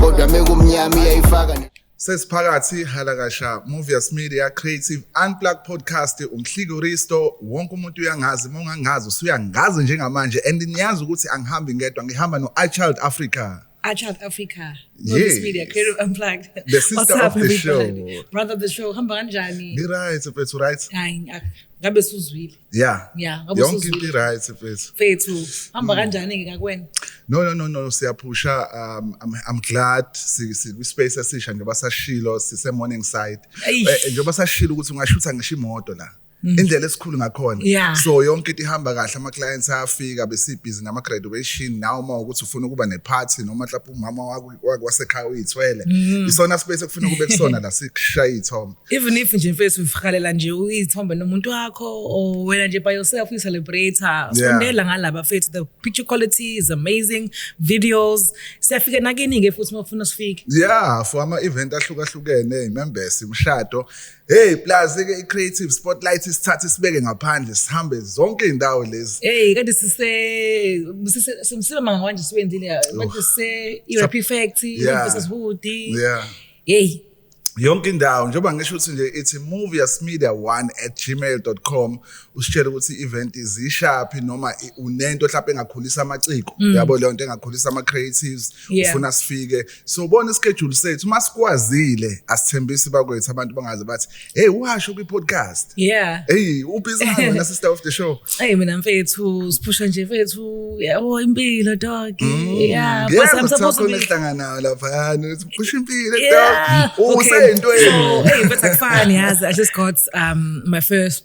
kodwa mekumnyama iyayifaka sesiphakathi halakasha movius media creative unplug podcast umhliki uristo wonke umuntu uyangazi uma ungangazi usuyangazi njengamanje and niyazi ukuthi angihambi ngedwa ngihamba no-ichild africa ichild africa yes. media creative unplugged the sister What's of the show brother of the show hamba kanjani ngi-right mfethu right hayi ngabe suzwile Yeah. Yeah, ngabe Yonke usuzwile. into right mfethu. Mfethu, hamba kanjani ke kakwena? No no no no siyaphusha um I'm, I'm glad si si kwi space esisha njengoba sashilo sise morning side. Eish. Eh, Njengoba sashilo ukuthi ungashutha ngisho imoto la. Indlela esikhulu ngakhona. Yeah. So yonke into ihamba kahle ama clients ayafika besibhizi ngama graduation now uma ukuthi ufuna ukuba ne party noma lapho umama wakho wasekhaya uyithwele mm. isona space ekufuna kube kusona la sikushaya ithombe even if nje mfethu ufihalela nje uyithombe nomuntu wakho or wena nje by yourself ni celebrate sondela ngalaba mfethu the picture quality is amazing videos siyafika nakini ke futhi mafuna sifike yeah for ama event ahlukahlukene imembesi umshado Hey plus ke i-creative spotlight isithathe sibeke ngaphandle sihambe zonke indawo lezi. Hey kanti sise sise simsile manga manje siwenzile manje se ERP factory, business wood. Yeah. Hey yonke indawo njengoba ngisho ukuthi nje ithi moviasmedia1@gmail.com usitshela ukuthi i-event izishaphi noma unento mhlawumbe engakhulisa amaciko mm. yabo leyo nto engakhulisa ama-creatives ufuna sifike sobona ischedule sethu uma sikwazile asithembisi bakwethu abantu bangaze bathi hey uhasho kwi podcast yeah hey ubhizi wena sister of the show hey mina mfethu siphusha nje mfethu yabo impilo dog mm. yeah but i'm supposed to be hlangana lapha yani siphusha impilo dog usento yini hey but akufani yazi i just got um my first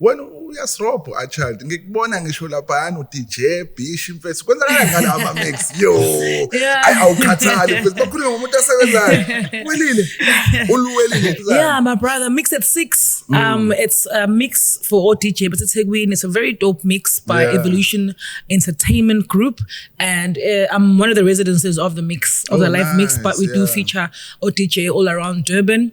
wena uyasirobho a child ngikubona ngisho laphayana uDJ Bish imfesi kwenza kanjani ama mix yo ay awukhathali mfesi bakhuluma ngomuntu asebenzayo welile uluwelile yeah my brother mix at 6 mm. um it's a mix for all DJ but it's Hegwin it's a very dope mix by yeah. Evolution Entertainment Group and uh, I'm one of the residences of the mix of oh, the live nice. mix but we yeah. do feature ODJ all around Durban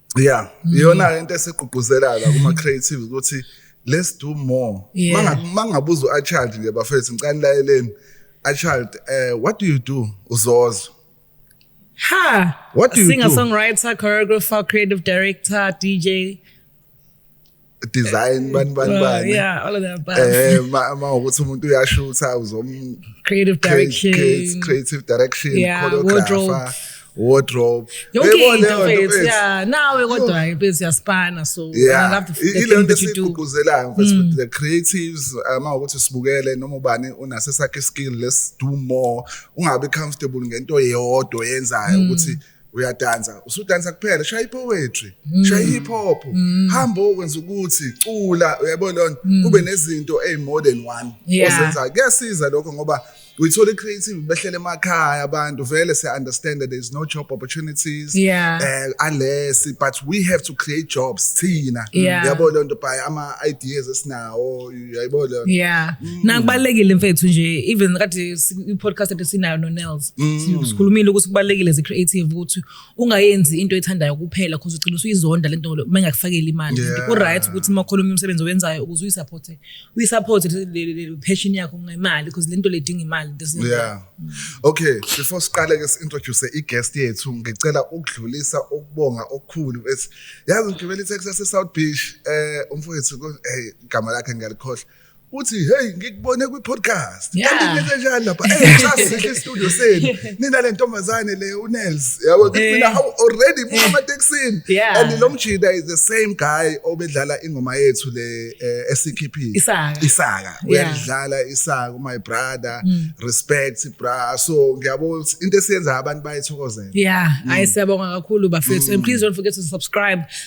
yeah mm. iyona into esigqugquzela la kuma creative ukuthi let's do more yeah. mangabuza u child nje bafethu ngicela nilaleleni a child uh, what do you do uzozwa ha what do you singer do? songwriter choreographer creative director dj design bani bani bani yeah all of that but eh ma ukuthi umuntu uyashutha uzom creative direction creative, creative direction yeah, choreographer wardrobe yonke into mfethu yeah nawe kodwa impezi siyaspana so yeah. i love the, the thing that you do igqugquzelayo mfethu mm. the creatives ama um, ukuthi sibukele noma ubani unase sakhe skill let's do more ungabe comfortable ngento eyodwa yenzayo mm. ukuthi mm. uyadansa usudansa kuphela shaya ipoetry mm. shaya hip hop mm. hamba okwenza ukuthi cula uyabo lonto mm. kube nezinto ey more than one ozenza kuyasiza lokho ngoba uyithola i-creative behlele emakhaya abantu vele siya-understand that there is no job opportunities yeah. uh, unless but we have to create jobs thina yabo yeah. loo nto by ama-ideas esinawo yayibona leyo yeah nakubalekile mfethu nje even kade si- i-podcast ade sinayo no-nels sikhulumile ukuthi kubalekile as a creative ukuthi ungayenzi into ethandayo kuphela cause ugcina usuyizonda le nto uma ingakufakeli imali Yeah. ku-right ukuthi uma khona omunye umsebenzi owenzayo ukuze uyisapothe uyisapothe le- le- le- le passion yakho ngemali cause le nto le idinga imali This is- yeah okay before siqale ke si-introduce i-guest yethu ngicela ukudlulisa ukubonga okukhulu ethi yazi ngigibela i-taxi yase-south beach um umfowethu ko- hey igama lakhe ngiyalikhohla uthi hey ngikubone kwi-podcast kanti into enjenjani lapha sasihle istudio senu nina le ntombazane le unels yabo mina how already buka amatekisini and lo mjida is the same guy obedlala ingoma yethu le eh, esikhiphile isaka uyalidlala isaka my brother mm. respect bra so ngiyabo into esiyenza abantu bayithokozela yeah mm. ayi siyabonga kakhulu bafethu and mm. please don't forget to subscribe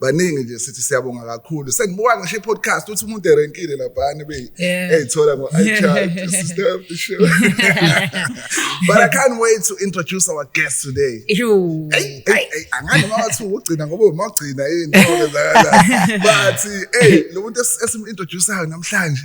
baningi nje sithi siyabonga kakhulu sengibuka ngisho i-podcast uthi umuntu erenkile laphana beyithola ngo-ichild sister of the show but i can't wait to introduce our guest today angani uma wathi ugcina ngoba uma ugcina yini but ey lo muntu esim-introdusayo namhlanje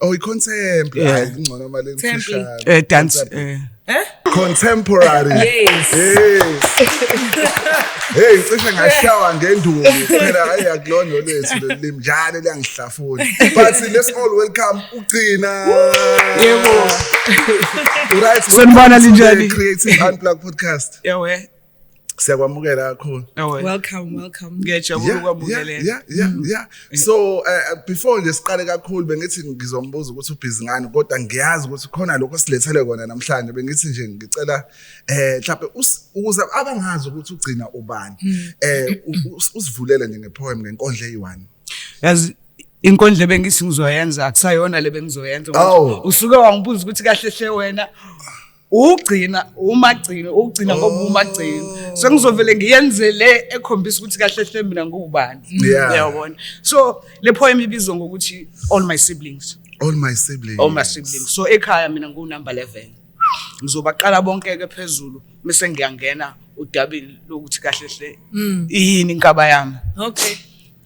Oh, i-contempt. Yeah. Hayi, ingcono mali emfishane. Eh dance eh Contemporary. Yes. Hey, cishe ngashawa ngenduku phela hayi akulona olethu leli njalo liyangihlafuna. But let's all welcome ugcina. Yebo. Right. Sanibona, linjani? Creative Unplug podcast. yawe siyakwamukela kakhulu welcome welcome ngiyajabula ukwamukeleka yeah yeah mm. yeah so uh, before nje siqale kakhulu bengithi ngizombuza ukuthi ubhizi ngani kodwa ngiyazi ukuthi khona lokho silethele kona namhlanje bengithi nje ngicela eh mhlawumbe ukuze abangazi ukuthi ugcina ubani mm. eh usivulele nje ngepoem ngenkondla eyi1 yazi inkondle bengithi ngizoyenza akusayona le bengizoyenza oh. usuke wangibuza ukuthi kahle hle wena ugcina umagcina ugcina ngoba oh. umagcina so ngizovele ngiyenze le ekhombisa ukuthi kahle hle mina ngubani uyabona so le poem ibizwa ngokuthi all my siblings all my siblings all my siblings so ekhaya mina ngu number 11 ngizobaqala bonke ke phezulu bese ngiyangena udabini lokuthi kahle hle mm. yini inkaba yami okay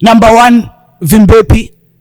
number 1 Vimbepi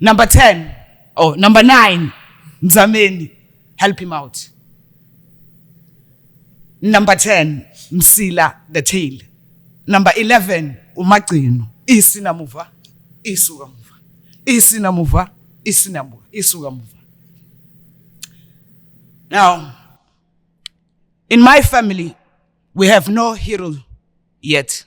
number 10 or number 9 mzameni help him out number 10 msila the tail number 11 umagcino isinamuva isuka muva isinamuva isinamuva isuka muva now in my family we have no hero yet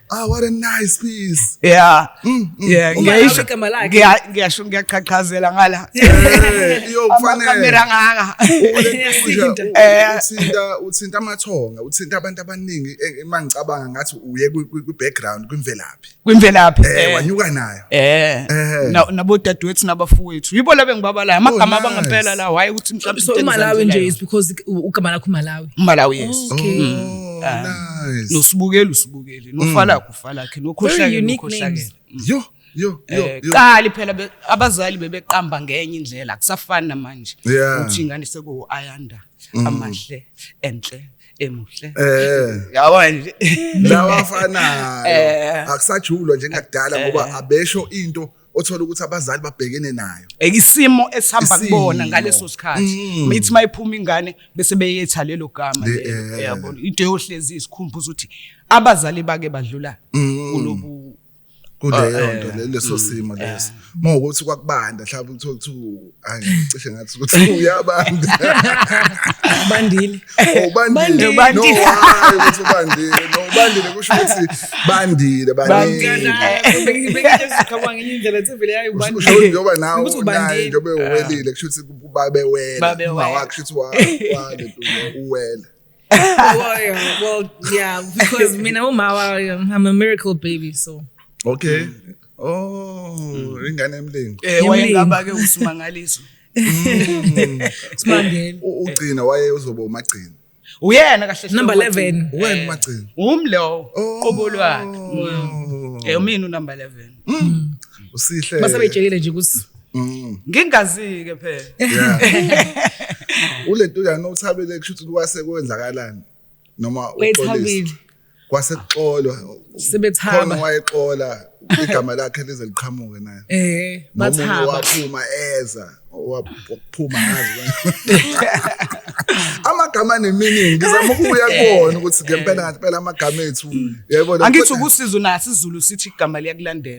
Ah, what a nice piece. Yeah. Mm, mm. Yeah, ngiyasho igama lakhe. Ngiya- Ngiyasho ngiyaqhaqhazela ngala. Eh, yo kufanele Kamera ngaka. Uyasinda. Eh. uthinta uthinta amathonga uthinta abantu abaningi eh, uma ngicabanga ngathi uye kwi- kwi- kwi-background kwimvelaphi Kwimvelaphi. Eh, Eh. wanyuka nayo Eh, eh. na nabo dadewethu nabafowethu yibo labe ngibabalayo amagama oh, nice. abangempela la why ukuthi mhlawumbe so imalawi nje is because ugama lakho malawi malawi yes oh, okay. mm. uh, nice. nosibukeli usibukeli nofala mm. kufalakhe nokhohlakele nokhohlakele mm. yo yo yo eh, qali phela abazali bebeqamba ngenye indlela kusafana manje uthi ingane seku ayanda mm. amahle enhle emuhle eh yabo nje lawafanayo eh. akusajulwa njengakudala ngoba eh. abesho into othola ukuthi abazali babhekene nayo ekisimo esihamba kubona ngaleso sikhathi mm. mithi mayiphuma ingane bese beyetha lelo gama eh. yabo into yohlezi isikhumbuza ukuthi abazali bake badlula mm. kulobu kuleyo ah, nto eh, leso mm, simo leso eh. uma ukuthi kwakubanda mhlawumbe kuthiwa kuthiwa angicishe ngathi ukuthi uyabanda bandile oh, bandile bandile ukuthi ubandile no bandile kusho ukuthi bandile bandile njengoba nawe unaye njengoba uwelile kusho ukuthi babe wela kusho ukuthi wale uwela well, well, yeah, because me know my I'm a miracle baby, so. Okay. Mm. Oh, mm. ingane emlingo. Eh, wayengaba ke usimangaliso. Mm. Simangele. Ugcina waye uzoba umagcina. Uyena kahle hle. Number 11. Wena eh, umagcina. Umi lo. Oh. Qobo lwakhe. Eh, umina u number 11. Usihle. Base bejekile nje kusi. Mm. ngingazike phela ulento uyana uthabile kusho ukuthi kwase kwenzakalani noma wethabile kwase kuxolwa sebethaba khona wayexola igama lakhe lize liqhamuke naye eh bathaba waphuma eza waphuma ngazi amagama neminingi ngizama ukubuya kubona ukuthi ngempela ngathi phela amagama ethu yebo angithi ukusiza unathi izulu sithi igama liyakulandela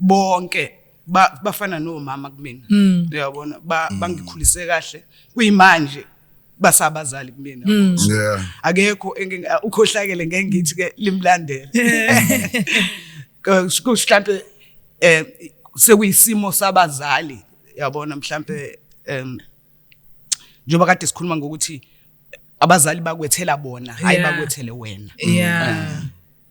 bonke ba- bafana nomama kumina Mm. uyabona ba- bangikhulise kahle kuyimanje basabazali kumina Mm. Yeah. akekho engike- a- ukhohlakele ngeke ngithi ke limlandele Kus- kus- mhlampe eh sekuyisimo sabazali yabona mhlampe em njengoba kade sikhuluma ngokuthi abazali bakwethela bona hayi Yeah. bakwethele wena Yeah.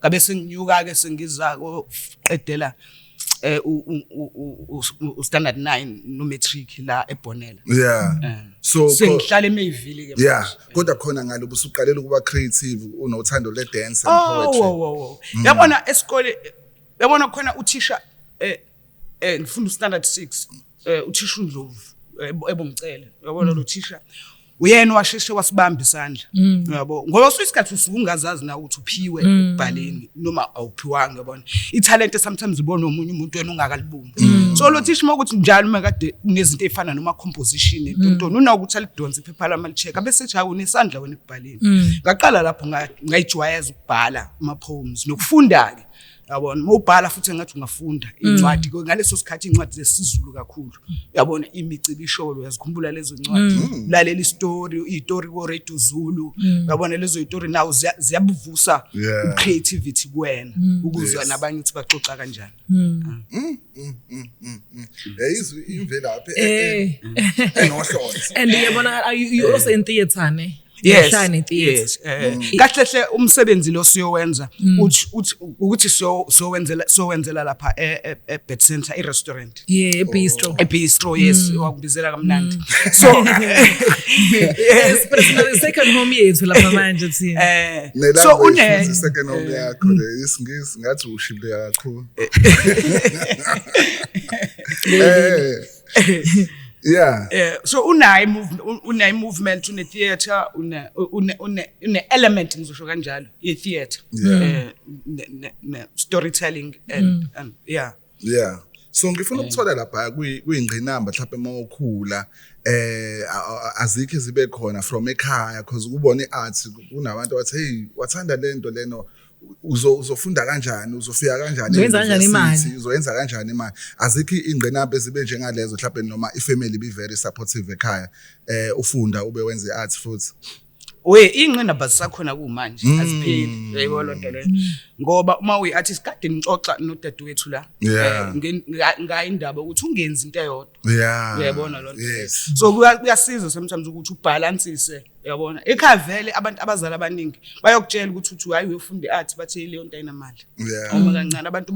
ngabe senginyuka ke sengiza koqedela eh u standard 9 no matric la ebonela yeah eh. so sengihlala emeyivili ke yeah kodwa khona ngalo busuqalela ukuba creative unothando le dance and oh, poetry oh oh oh yabona esikole yabona khona uthisha eh eh ngifunda standard 6 eh uthisha uNdlovu eh, ebongicela yabona mm. lo thisha uyena washeshe wasibamba isandla mm. yabo ngoba usuke isikhathi usuke ungazazi na ukuthi uphiwe mm. ekubhaleni noma awuphiwanga yabona ithalente sometimes ubona omunye umuntu wena ungakalibumbi mm. so lo thisha uma ukuthi njalo uma kade unezinto ezifana noma composition entontoni unakuthi alidonse iphepha lami alicheck abese ethi hawu nesandla wena ekubhaleni ngaqala lapho ngayijwayeza ukubhala ama poems nokufunda ke yabona uma ubhala futhi engathi ungafunda mm. incwadi mm. ngaleso sikhathi incwadi zesizulu kakhulu yabona imicibi isholo yazikhumbula lezo ncwadi mm. lalela istory itori wo radio zulu mm. yabona lezo itori nawo ziyabuvusa yeah. ucreativity kuwena mm. ukuzwa yes. nabanye ukuthi baxoxa kanjani mm. ah. mm. mm. mm. mm. mm. yayizwi imvelaphi eh. eh, eh. enohlonze and yabona you also in theater ne yes Ngishaya netheatre. yes eh, Mm. kahle hle umsebenzi lo siyowenza uthi uthi ukuthi siyo- siyowenzela siyowenzela lapha e- e- e bed center i restaurant yeah ebistro e bistro yes wakubizela kamnandi so yes but it's not the second home yethu lapha manje thina eh so Nelanga une ifunza second home yakho le isingisi ngathi ushilo kakhulu. Eh yeah eh so unayi movement unayi movement une theater une une une element ngizosho kanjalo ye theater eh ne storytelling and mm. and yeah yeah so ngifuna eh. ukuthola lapha kuyingqinamba mhlawumbe uma ukhula eh azikho zibe khona from ekhaya because ukubona iarts kunabantu abathi hey wathanda lento leno uzofunda kanjani uzofika kanjani uzoyenza kanjani imali uzoyenza kanjani imali azikho ingqinamba ezibe njengalezo mhlawumbe noma ifamily be very supportive ekhaya eh ufunda ube wenza iarts futhi we ingqinamba zisakhona kumanje mm. azipheli yebo lonto leyo ngoba uma uyi artist kade ngixoxa nodadewethu la eh, ngayi indaba ukuthi ungenzi into eyodwa uyayibona lonto so kuyasiza sometimes ukuthi ubalansise yabona ekhaya vele abantu abazali abaningi bayokutshela ukuthi uthi hayi uyofunda i-art bathe leyo nto ayinamali uma kancane abantu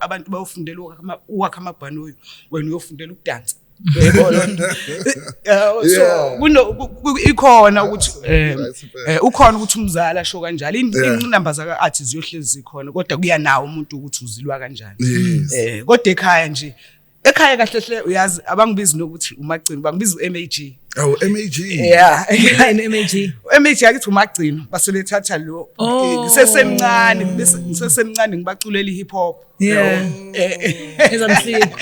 abantu bayofundela ukwakha amabhanoyi wena uyofundela ukudansa ikhona ukuthi eh, eh, ukhona ukuthi umzali asho kanjalo inqinamba zaka-art ziyohlezi zikhona kodwa kuyanawo umuntu ukuthi uzilwa kanjani um kodwa ekhaya nje ekhaya kahle hle uyazi abangibizi nokuthi umagcino bangibiza u-mag awu mag yeah yini mag u-mag akithi umagcino basebethatha lo oh. ngisesemncane ngisesemncane ngibaculela i-hip hop yeah ezamsiko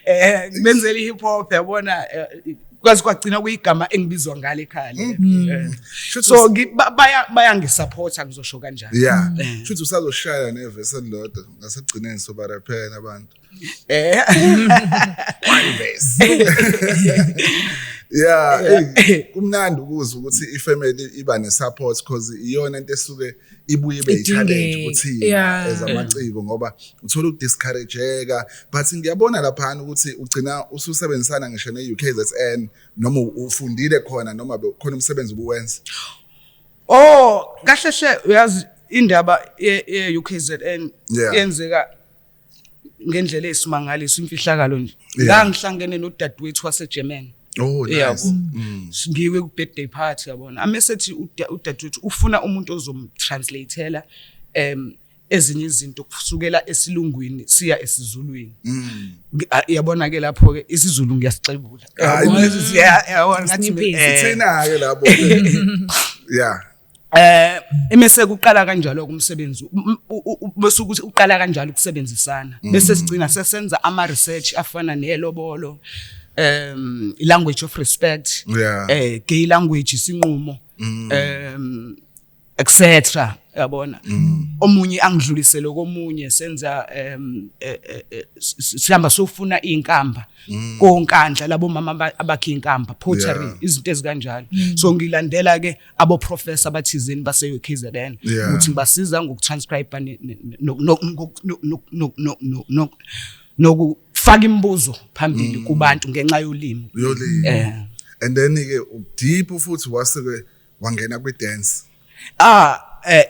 eh ngibenzela i-hip hop yabona eh, kwazi kwagcina kuyigama engibizwa ngalo ekhaya hmm. hmm. eh. so bayangisupporta ngizosho kanjani yeah eh. shuthi usazoshaya nevesi elilodwa ngasekugcineni sobaraphela abantu Eh. yeah kumnandi ukuzwa ukuthi ifamily iba nesupport because iyona into esuke ibuye ibe i-challenge ukuthi as amaciko ngoba uthola ukudiscourageka but ngiyabona laphana ukuthi ugcina ususebenzisana ngisho ne-ukzn noma ufundile khona noma khona umsebenzi ubuwenza oh kahle hle uyazi indaba ye-ukzn yenzeka yeah. ngendlela esimangaliso imfihlakalo nje ngangihlangene nodadewethu waseGermany Oh nice. Mm. Ngiwe ku birthday party yabona. Amesethi udadewethu ufuna umuntu ozomtranslateela em ezinye izinto kusukela esilungwini siya esizulwini mm. yabona ke lapho ke isizulu ngiyasixebula yabona ngathi sithinayo lapho yeah Eh imese kuqala kanjalo kumsebenzi bese ukuthi uqala kanjalo ukusebenzisana mm. bese sigcina sesenza ama research afana nelobolo um language of respect eh gay language sinqumo mm. um etc yabona mm. omunye angidlulisele komunye senza um eh, eh, eh, sihamba sofuna inkamba mm. konkandla labo mama abakhe inkamba pottery izinto ezikanjalo mm. so ngilandela ke aboprofessor abathizeni base-KZN ukuthi basiza ngokutranscribe nokufaka imibuzo phambili mm. kubantu ngenxa yolimi yolimi eh. and then ke deep futhi wasuke wangena kwi dance ah eh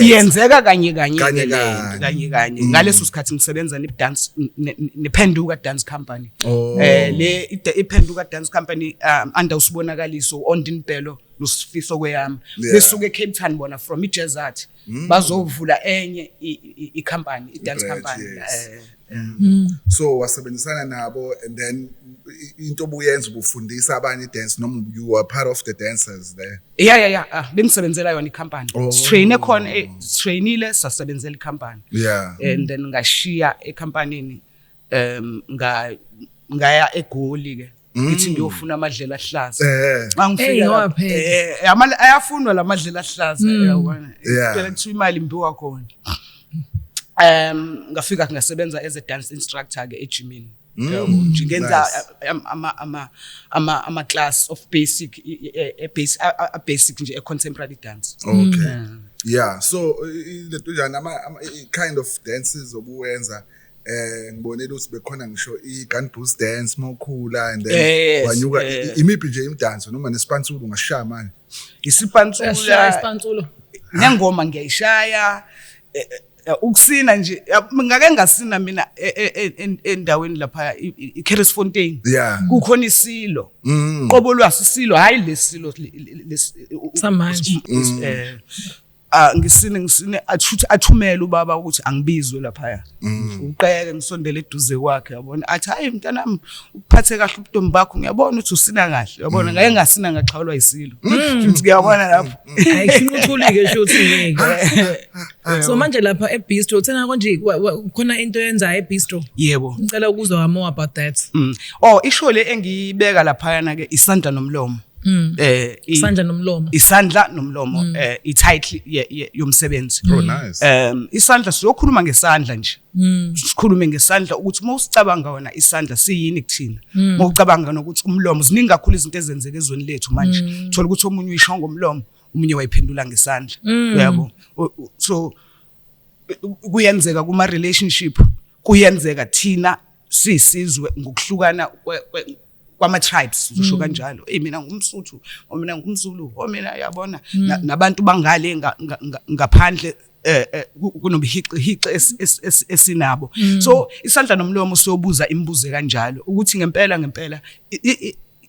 iyenzeka kanye kanye kanye kanye mm. ngaleso sikhathi ngisebenza ne dance ne phenduka dance company Oh. Eh le iphenduka dance company um, under usibonakaliso uOndin Bhelo nosifiso kweyami. Yeah. Besuke eCape Town bona from iJazz Art. Mm. Bazovula enye icompany, idance company. Yes. Eh. Mm. Mm. So wasebenzisana nabo and then into obuyenza ubufundisa abanye dance noma you are part of the dancers there. Yeah yeah yeah, ah, bengisebenzela yona icompany. Oh. Train ekhona, eh, trainile sasebenzela icompany. Yeah. And then ngashiya ecompany ni um nga- ngaya egoli ke ngithi ngiyofuna amadlela ahlaza Eh. Hey, mangifika ngoba lapho, phela. eh, ama- ayafunwa la madlela ahlaza uyabona Yeah. phela kuthiwa imali imbiwa khona um ngafika ngasebenza as a dance instructor ke ejimini uyabona, nje ngenza nice. am- ama- ama- ama- ama-class of basic i- i- e- e- basi- a- a- a- basic nje e-contemporary dance Okay. Yeah, so i- i- lento njani ama ama- i- i- kind of dances obuwenza eh ngibonile ukuthi bekhona ngisho i-gun boost dance mawukhula and then yes, wanyuka yes. imiphi nje imidanso noma nesipansulo ungashaya manje isipansulo isipansulo nengoma ngiyayishaya eh, eh, eh, ukusina nje ngake ngasina mina e, e, e, endaweni lapha iCarisfontein kukhona isilo mm. qobo lwasisilo hayi lesilo samanje mm. ah ngisine ngisine athuthi athumele ubaba ukuthi angibizwe lapha mm. uqeke ngisondele eduze kwakhe yabona athi hayi mntanami ukuphathe kahle ubuntombi bakho ngiyabona ukuthi usina kahle yabona mm. ngaye ngasina ngaxhawulwa isilo mm. futhi ngiyabona lapho ayishinquthuke shuthi ngeke so manje lapha ebistro uthena konje khona into yenza ebistro yebo ngicela ukuzwa more about that oh isho le engiyibeka lapha yana ke isandla nomlomo Mm. Eh isandla nomlomo. Isandla nomlomo mm. eh i title yomsebenzi. Oh nice. Um isandla siyokhuluma ngesandla nje. Mm. Sikhulume ngesandla ukuthi uma usicabanga wena isandla siyini kuthina. Mm. Uma ucabanga nokuthi umlomo ziningi kakhulu izinto ezenzeka ezweni lethu manje. Mm. Thola ukuthi omunye uyisho ngomlomo, omunye wayiphendula ngesandla. Mm. Uyabo? So kuyenzeka kuma relationship kuyenzeka thina sisizwe ngokuhlukana kwama-tribes usho mm. kanjalo eyi mina ngumsuthu or oh, mina ngumzulu o oh, mina yabona mm. nabantu bangale ngaphandle eh, eh kunobuhiqihiqi esinabo mm. so isandla nomlomo siyobuza imibuzo kanjalo ukuthi ngempela ngempela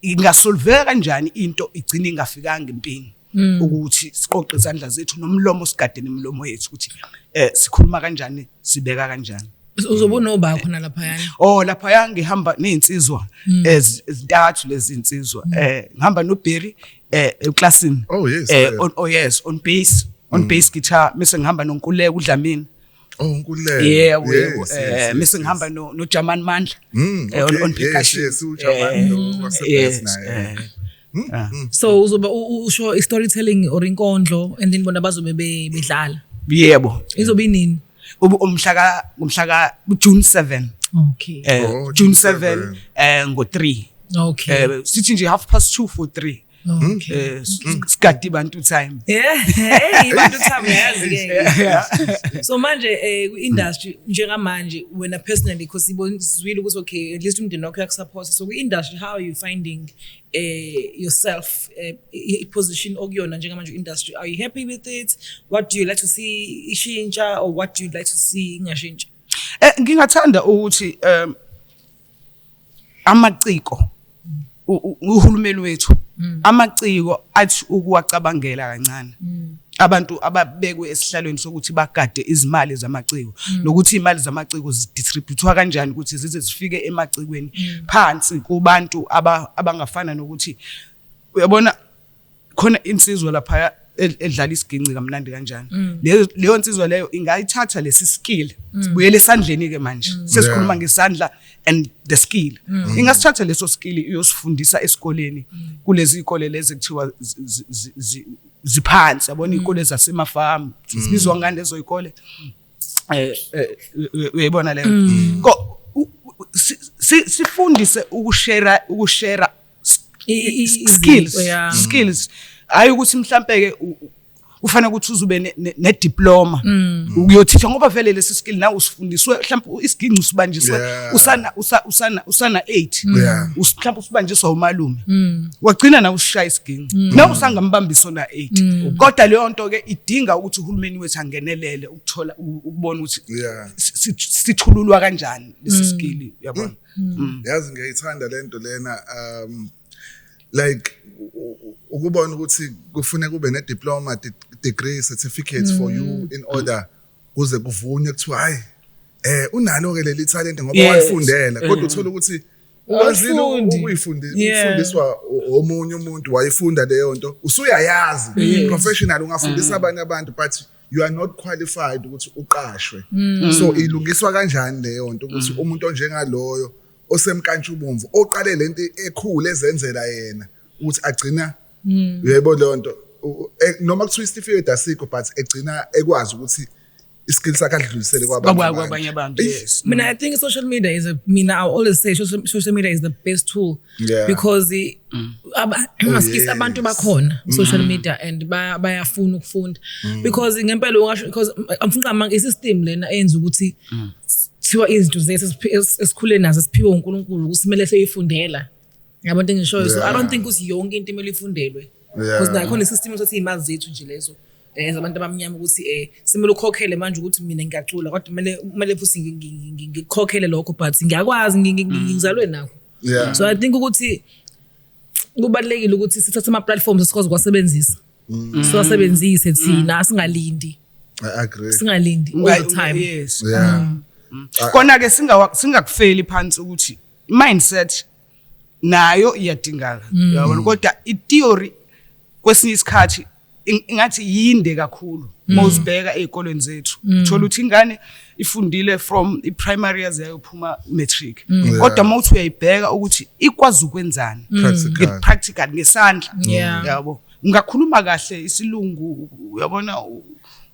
ingasolveka kanjani into igcina ingafikanga empini mm. ukuthi siqoqe izandla zethu nomlomo sigadene imilomo yethu ukuthi eh sikhuluma kanjani sibeka kanjani uzobe unoba khona lapha yani oh lapha ya ngihamba nezinsizwa mm. ezintathu lezi zinsizwa mm. eh ngihamba no Berry eh eclassini oh yes eh on oh yes on bass on mm. bass guitar mase ngihamba nonkuleka udlamini Oh Nkululeko. Yebo yebo. Yes, yes, Eh yes, mese yes. ngihamba no no Jaman Mandla. Mm, Eh, okay. on- on Yes, percussion. yes, uJaman Eh, lo wase yes, Best naye. eh. Mm, Ah. mm. so uzobe u- u- usho i-storytelling or inkondlo and then bona bazobe be- bedlala Yebo. izobe inini Ube umhla ka umhla ka June 7. okay Eh Oh, June June 7 7. eh ngo 3. okay Eh sithi nje half past 2 for 3. Hmm? Eh, hmm. sikade ibantu time ibantu time yazi ke so manje eh ku industry njengamanje wena personally because ibonizwile ukuthi okay at least umndeni wakho yakusupport so ku industry how are you finding eh yourself eh, i position okuyona njengamanje industry are you happy with it what do you like to see ishintsha or what do you like to see ingashintsha eh ngingathanda ukuthi um amaciko uhulumeni wethu mm. amaciko athi ukuwacabangela kancane mm. abantu ababekwe esihlalweni sokuthi bagade izimali zamaciko mm. nokuthi imali zamaciko zidistributwa kanjani ukuthi zize zifike emacikweni phansi kubantu abangafana nokuthi uyabona khona insizwa laphaya edlala isiginci kamnandi kanjani mm. leyo leyo nsizwa leyo ingayithatha lesi skill mm. sibuyele esandleni ke manje mm. sesikhuluma ngesandla and the skill ingasithatha leso skill iyosifundisa esikoleni kulezi ikole lezi kuthiwa ziphansi yabona ikole zasemafamu sibizwa ngani lezo ikole eh, eh uyayibona leyo sifundise ukushare ukushare skills skills hayi ukuthi mhlambe ke ufanele ukuthi uzube ne diploma mm. ukuyothisha ngoba vele lesi skill nawe usifundiswe mhlawumbe isiginci usibanjiswe usana usana usana 8 mm. mhlawumbe usibanjiswa umalume mm. wagcina nawe usishaya isiginci nawe usangambambisa ona 8 kodwa leyo nto ke idinga ukuthi uhulumeni wethu angenelele ukuthola ukubona ukuthi sithululwa kanjani lesi skill yabona mm. yazi ngiyayithanda lento lena um like ukubona ukuthi kufuneka ube ne diploma degree certificates mm. for you mm. in order kuze kuvunywe kuthiwa hayi eh unalo ke leli talent ngoba yes. wayifundela kodwa mm. uthola ukuthi ukwazile ukuyifundiswa omunye umuntu wayifunda leyo nto usuyayazi professional ungafundisa mm. abanye abantu but you are not qualified ukuthi uqashwe mm. so ilungiswa kanjani leyo nto ukuthi mm. umuntu onjengaloyo osemkantshubomvu oqale lento ekhulu ezenzela yena ukuthi agcina mm. yebo leyo nto e, noma kuthiwa isitifiketi asikho but egcina ekwazi ukuthi iskill sakhe adlulisele kwabanye abantu yes mina i think social media is a mina i always say social, social media is the best tool yeah. because mm. maskisi oh, abantu bakhona mm. social media and bayafuna ukufunda mm. because ngempela ungasho because amfunqama isystem lena eyenza ukuthi mm. kuthiwa izinto zethu esikhule nazo siphiwe uNkulunkulu ukuthi kumele seyifundela yabo into engishoyo so i don't think ukuthi yonke into imele ifundelwe because nakhona isystem ukuthi izimazi zethu nje lezo eh zabantu abamnyama ukuthi eh simele ukhokhele manje ukuthi mina ngiyacula kodwa kumele kumele futhi ngikhokhele lokho but ngiyakwazi ngizalwe nakho yeah. so i think ukuthi kubalekile ukuthi sithathe ama platforms sikwazi ukwasebenzisa mm. siwasebenzise mm. thina singalindi i agree singalindi all the time yes yeah mm. mm. kona ke singa singakufeli phansi ukuthi mindset nayo iyadingaka mm. yabona kodwa i theory kwesinye isikhathi ingathi yinde kakhulu uma mm. uzibheka ey'kolweni zethu mm. uthola ukuthi ingane ifundile from i-primary yaze yayophuma matric mm. kodwa uma uthi uyayibheka ukuthi ikwazi ukwenzani practical ngesandla yabo ungakhuluma kahle isilungu uyabona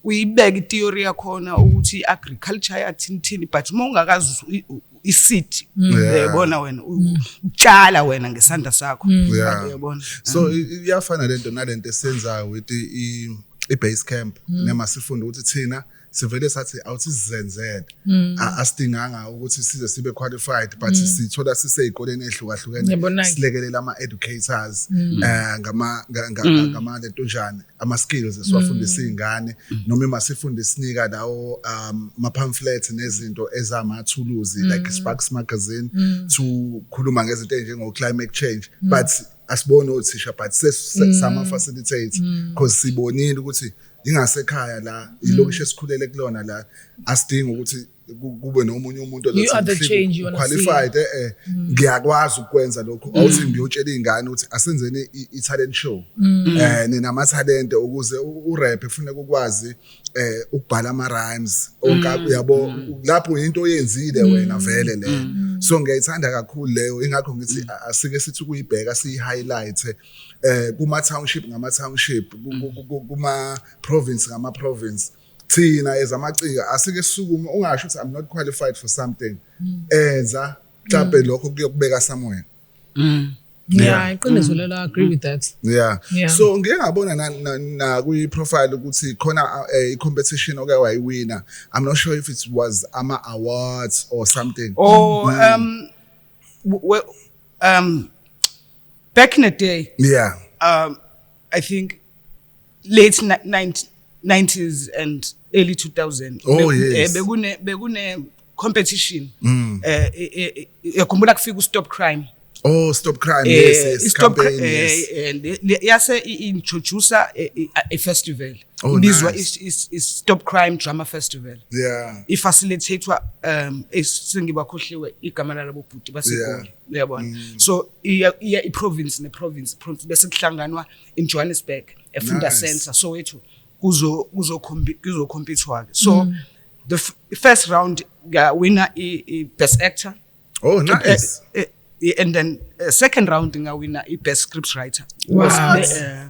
uyibeka i-theory yakhona ukuthi i-agriculture yathini thini but uma ungakazi iseed mm. uyabona wena mm. utshala wena ngesandla sakho mm. uyabona so iyafana lento nalento esenzayo with i base camp nema sifunde ukuthi thina sivele sathi awusizenzele asidinganga ukuthi size sibe qualified but sithola sisezikoleni ezihlukahlukene silekelela ama educators eh ngama ngama lento njani ama-skills esiwafundisa mm. iy'ngane mm. noma uma sifunde sinika lawo um ma-pamphlets nezinto ezamathuluzi mm. like sparks magazine mm. to khuluma ngezinto ey'njengo-climate change mm. but asiboni othisha but mm. sama-facilitate mm. cause sibonile ukuthi ingasekhaya la ilokishi esikhulele kulona la asidingi ukuthi kube nomunye umuntu qualified eh, eh mm. ngiyakwazi ukwenza lokho mm. awuthi ngiyotshela izingane ukuthi asenzeni i-talent show mm. eh nina amathalente ukuze urap ufune ukwazi eh ukubhala ama rhymes onkabi uyabo lapho into oyenzile wena vele le so ngiyayithanda kakhulu leyo ingakho ngithi asike sithi kuyibheka siyi highlight eh kuma township ngama township kuma province ngama province thina ezamaciko asike sukume ungasho ukuthi i'm not qualified for something mm. enza mhlawumbe mm. lokho kuyokubeka somewhere mm. yeah iqiniso mm. lelo agree with that yeah, yeah. so ngike ngabona na, na, na kwi profile ukuthi khona eh, i competition oke wayiwina i'm not sure if it was ama awards or something oh mm. um well, um back in the day yeah um I think late 90 90s and early 2000 oh, Be, yes. eh, bekune bekune competition mm. eh, eh, eh, eh khumbula kufika ustop crime Oh stop crime eh, yes, yes stop campaign cri yes eh, and yase introduce a, a festival oh, ibizwa nice. is, is stop crime drama festival yeah ifacilitatewa um esingiba khohliwe igama labo bhuti baseGoli yeah. uyabona mm. so iya iya iprovince neprovince province bese kuhlanganwa in Johannesburg efunda nice. center so wethu kuzo kuzo kuzo competwa ke so mm. the first round ga winner i, i best actor oh nice uh, uh, and then uh, second round nga winner i best script writer wow. was, uh,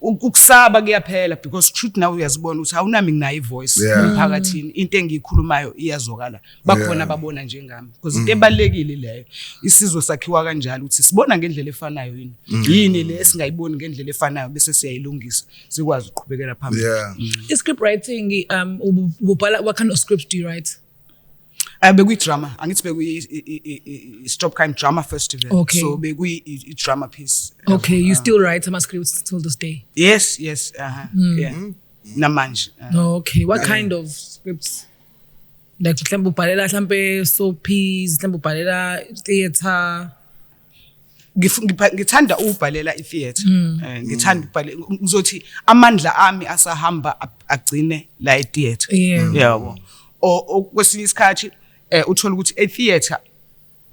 ukusaba kuyaphela because truth nawe uyazibona ukuthi awunami nginayo ivoice yeah. emphakathini into engiyikhulumayo iyazwakala bakhona yeah. babona njengami because into mm. ebalekile leyo isizwe sakhiwa kanjalo ukuthi sibona ngendlela efanayo yini mm. yini le esingayiboni ngendlela efanayo bese siyayilungisa sikwazi ukuqhubekela phambili yeah. mm. i script writing um ubhala what kind of script do you write Eh bekuyi drama, angithi bekuyi Stop Crime Drama Festival. Okay. So bekuyi i drama piece. Okay, you still write ama scripts till this day? Yes, yes, uh -huh. mm. yeah. Mm. Namanje. Uh, oh, okay, what yeah. kind of scripts? Like mhlawumbe ubhalela mhlawumbe soapies, mhlawumbe ubhalela theater. ngithanda ukubhalela itheatre hmm. eh, ngithanda ukubhalela ngizothi amandla ami asahamba agcine la itheatre yabo okwesinye isikhathi eh, uthola ukuthi etheatre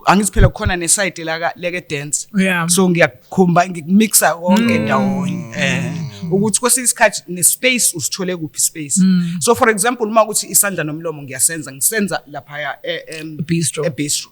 angithi phela kukhona nesayidi la leke dance so ngiyakhomba ngikumixa konke hmm. ndawonye eh ukuthi kwesinye isikhathi nespace usithole kuphi space hmm. so for example uma ukuthi isandla nomlomo ngiyasenza ngisenza lapha ya e, e, bistro e bistro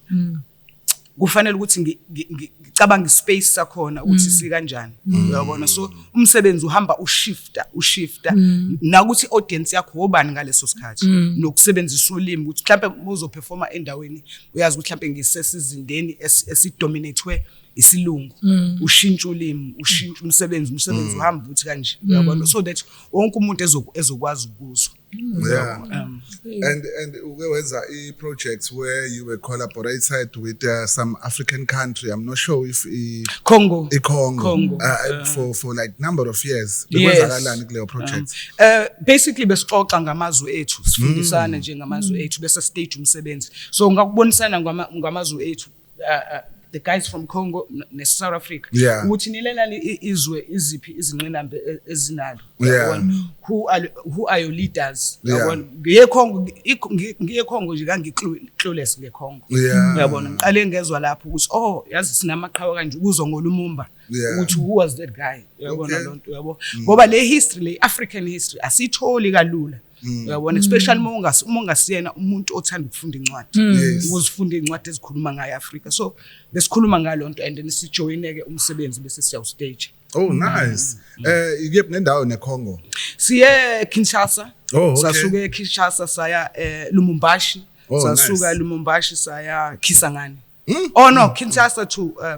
kufanele ukuthi ngicabanga ispace sakhona ukuthi mm. sikanjani mm. uyabona so umsebenzi uhamba ushifta ushifta mm. nakuthi audience yakho wobani ngaleso sikhathi nokusebenzisa ulimi ukuthi mhlawumbe uzoperforma endaweni uyazi ukuthi mhlawumbe ngisesizindeni esidominatwe isilungu ushintsha ulimi ushintsha umsebenzi umsebenzi uhamba ukuthi kanje uyabona so that wonke umuntu ezokwazi ukuzwa Yeah. Um, and and uke wenza i project where you were collaborated with uh, some African country. I'm not sure if i Congo. I Congo. Congo. Uh, uh, for for like number of years. Bekwenzakalani kuleyo project? Um, uh, basically besixoxa ngamazwe ethu, sifundisana mm. nje ngamazwe mm. ethu bese stage umsebenzi. So ngakubonisana ngamazwe ethu uh, uh, the guys from Congo ne South Africa yeah. ukuthi nilelani izwe iziphi izinqinamba e, ezinalo yeah. who are who are your leaders yabona yeah. ngiye Congo ngiye Congo nje kangikluless nge Congo yeah. yabona ngiqale ngezwa lapho ukuthi oh yazi sinamaqhawe kanje kuzo ngolumumba yeah. ukuthi who was that guy yabona okay. lonto yabo mm. ngoba le history le African history asitholi kalula Mm. uyabona especially uma ungasi uma ungasiyena umuntu othanda ukufunda incwadi Mm. Yes. ukuzifunda iy'ncwadi ezikhuluma ngayo afrika so besikhuluma ngalo nto and then sijoyine-ke umsebenzi bese siya ustage Oh nice. Mm. Eh ikephi nendawo neCongo? siye kinshasa Oh, okay. sasuke kinshasa saya eh, lumumbashi Oh, sasuka nice. lumumbashi saya kisangani Mm. oh no kinshasa to um,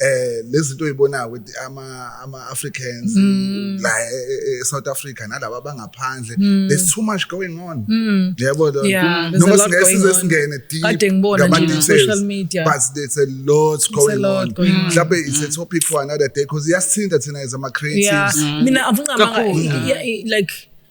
eh lezinto oyibonayo with ama ama Africans mm. la e, e, e, South Africa nalabo abangaphandle mm. there's too much going on mm. yebo lo noma singesize singene deep kade ngibona nje social media but there's a lot going on mhlawumbe it's a mm. topic for another day because iyasithinta thina as ama creatives mina avunga like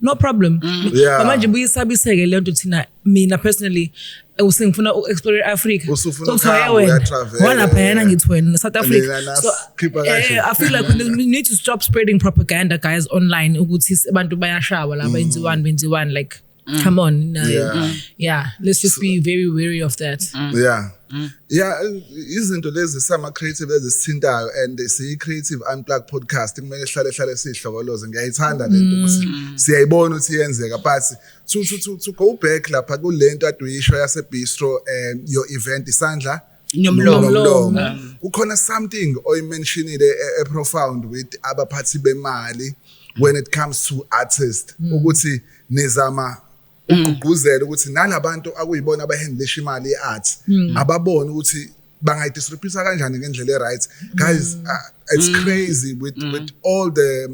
no problem mm. yeah. but manje buyisabiseke le nto thina mina personally eh, usengifuna u-explore i-africa wanaphayana ngithi wena south africa so eh, i feel like we need to stop spreading propaganda guys online ukuthi abantu bayashawa la mm. benziwani benziwani like mm. come on yeah. yeah let's just be very wary of that mm. yeah Mm. Yeah, izinto lezi sama creative ezisithintayo and siyi creative unplug podcast kumele sihlale hlale sihlokoloze ngiyayithanda lento mm. ukuthi siyayibona ukuthi yenzeka but to to to, to go back lapha kulento aduyisho yase bistro um your event isandla nomlomo mm. kukhona something oyimentionile e, e profound with abaphathi bemali when it comes to artists mm. ukuthi nizama ugqugquzela ukuthi nalabantu akuyibona abahandlisha imali ye-art hmm. ababone ukuthi bangayidisrupisa kanjani ngendlela e-right guys hmm. uh, it's hmm. crazy with, with all the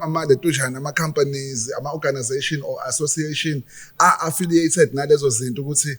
amaletujana ama-companies ama-organization or association a-affiliated nalezo zinto ukuthi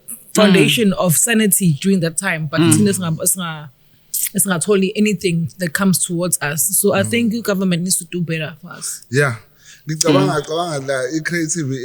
foundation mm. of sanity during that time but mm. thina singa singa singatholi anything that comes towards us so i mm. think the government needs to do better for us yeah ngicabanga mm. cabanga la i-creative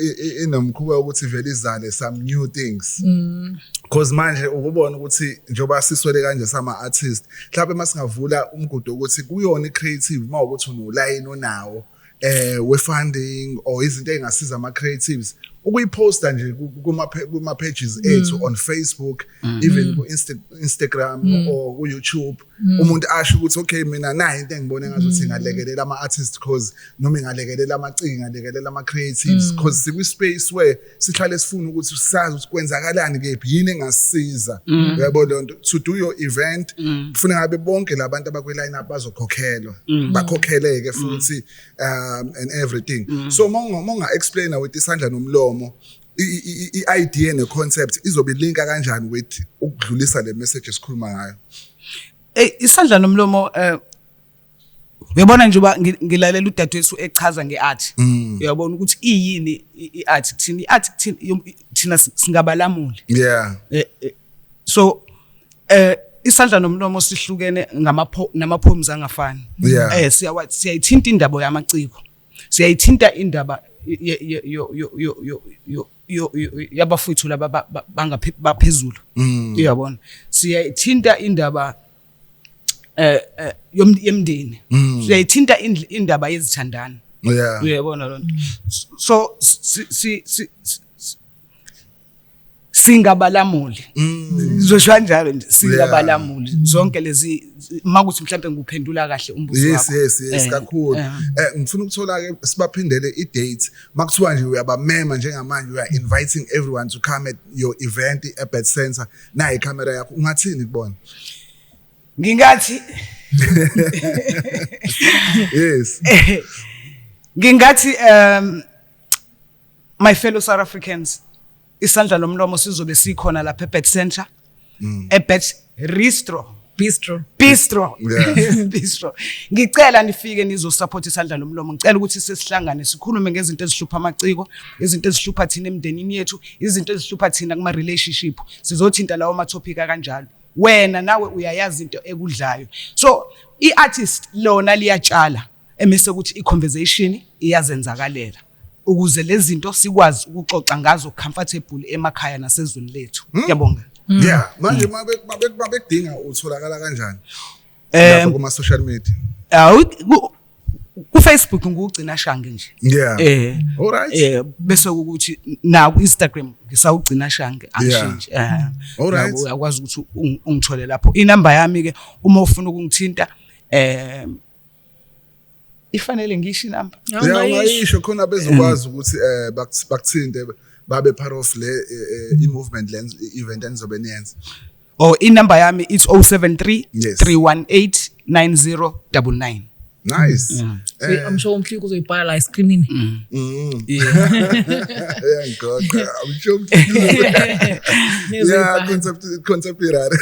inomkhuba ukuthi vele izale some new things mm. cause manje ukubona ukuthi njengoba siswele kanje sama artist mhlawumbe masingavula umgudu ukuthi kuyona i-creative uma ukuthi unolayini onawo eh we funding or izinto ezingasiza ama creatives ukuyiposta nje kuma kuma pages mm. ethu on Facebook mm. even mm. ku Insta, Instagram mm. or ku YouTube mm. umuntu asho ukuthi okay mina nayi into engibone ngathi mm. ngalekelela ama artists cause noma ngalekelela amacinga ngalekelela ama creatives mm. cause sikwi space where sihlale sifuna ukuthi sazi ukuthi kwenzakalani kephi yini engasiza mm. yabo lonto to do your event mm. kufuna ngabe bonke labantu abakwe line up bazokhokhelwa mm. bakhokheleke futhi um and everything so monga monga explainer with isandla nomlomo i-idea ne-concept izobe linka kanjani with ukudlulisa le message esikhuluma ngayo Ey isandla nomlomo eh, uyabona nje uba ngilalela udadewethu echaza nge-art mm. uyabona ukuthi iyini i-art kuthina i-art thina singabalamuli yeah eh, eh, so eh isandla nomlomo sihlukene ngamapho namapoems angafani eh siyawa siyayithinta indaba yamaciko siyayithinta indaba yo yo yo yo yo yabafowethu laba bangaphezulu mm. uyabona siyayithinta indaba eh, eh yomndeni mm. siyayithinta indaba yezithandana yeah uyabona lonto so si si singabalamuli mm. zosho njalo nje singabalamuli zonke lezi makuthi mhlawumbe ngikuphendula kahle umbuzo wakho yes yes yes eh, kakhulu eh. eh ngifuna ukuthola ke sibaphindele i date makuthiwa nje uyabamema njengamanje we are inviting everyone to come at your event at Bed Center nayi camera yakho ungathini kubona ngingathi yes ngingathi um my fellow south africans isandla lomlomo sizobe sikhona lapha ebet center mm. ebet restro bistro bistro bistro ngicela nifike nizosupport isandla lomlomo ngicela ukuthi sesihlangane sikhulume ngezinto ezihlupha amaciko izinto ezihlupha thina emndenini yethu izinto ezihlupha thina kuma relationship sizothinta lawo ma topic kanjalo wena nawe uyayazi into ekudlayo so iartist lona liyatshala emise ukuthi i-conversation iyazenzakalela ukuze lezi zinto sikwazi ukuxoxa ngazo comfortable emakhaya nasezweni lethu hmm? ngiyabonga hmm. yeah manje mabekudinga utholakala kanjani eh, lapha kuma social media kufacebook ngukugcina shange nje yeah eh alright eh bese ukuthi na ku Instagram ngisawugcina shange angishintshe eh alright uyakwazi ukuthi ungithole lapho inamba yami ke uma ufuna ukungithinta eh ifanele ngisho inamba ngiyayisho khona bezokwazi ukuthi eh bakuthinte babe part of le eh, eh, i-movement le event enizobe niyenza or oh, inumber yami it's 073 yes. 318 9099 nice mm. eh. i'm sure umhliki uzoyibhala la escreenini mm. mm. yeah yeah god i'm sure umhliki yeah Contemporary.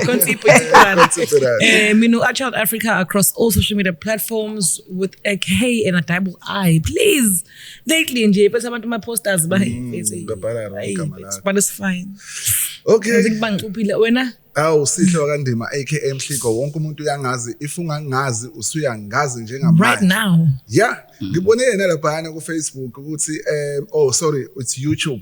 Contemporary. Eh, mina u Child Africa across all social media platforms with a K and a double I. Please. Lately nje bese abantu ama posters ba mm, babhala wrong igama lakho. But it's fine. Okay. Ngikubangicuphile wena. Awu sihle wakandima aka Mhligo wonke umuntu uyangazi if ungangazi usuyangazi njengamanje. Right now. Yeah. Mm. Ngibone yena laphana ku Facebook ukuthi um oh sorry it's YouTube.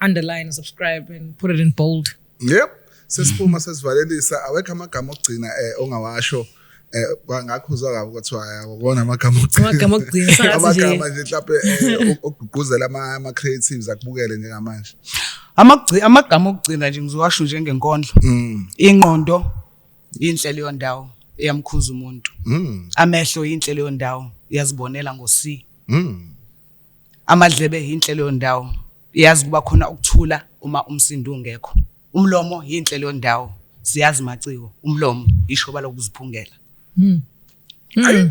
underline and subscribe and put it in bold yep sesiphuma sesivalelisa awekho amagama okugcina eh ongawasho eh ngakho uzwa kabi ukuthi ayakona amagama okugcina amagama okugcina sathi nje amagama nje mhlawumbe eh, ogqugquzela ama ama creatives akubukele njengamanje amagci amagama okugcina nje ngizowasho nje ngenkondlo mm. ingqondo inhlelo yondawo eyamkhuza umuntu mm. amehlo inhlelo yondawo yazibonela ngo C mm. Amadlebe yinhle leyo ndawo. Yazi kuba khona ukuthula uma umsindo ungekho. Umlomo yinhle leyo ndawo. Siyazi maciko, umlomo yishoba lokuziphungela. Mm. Mm.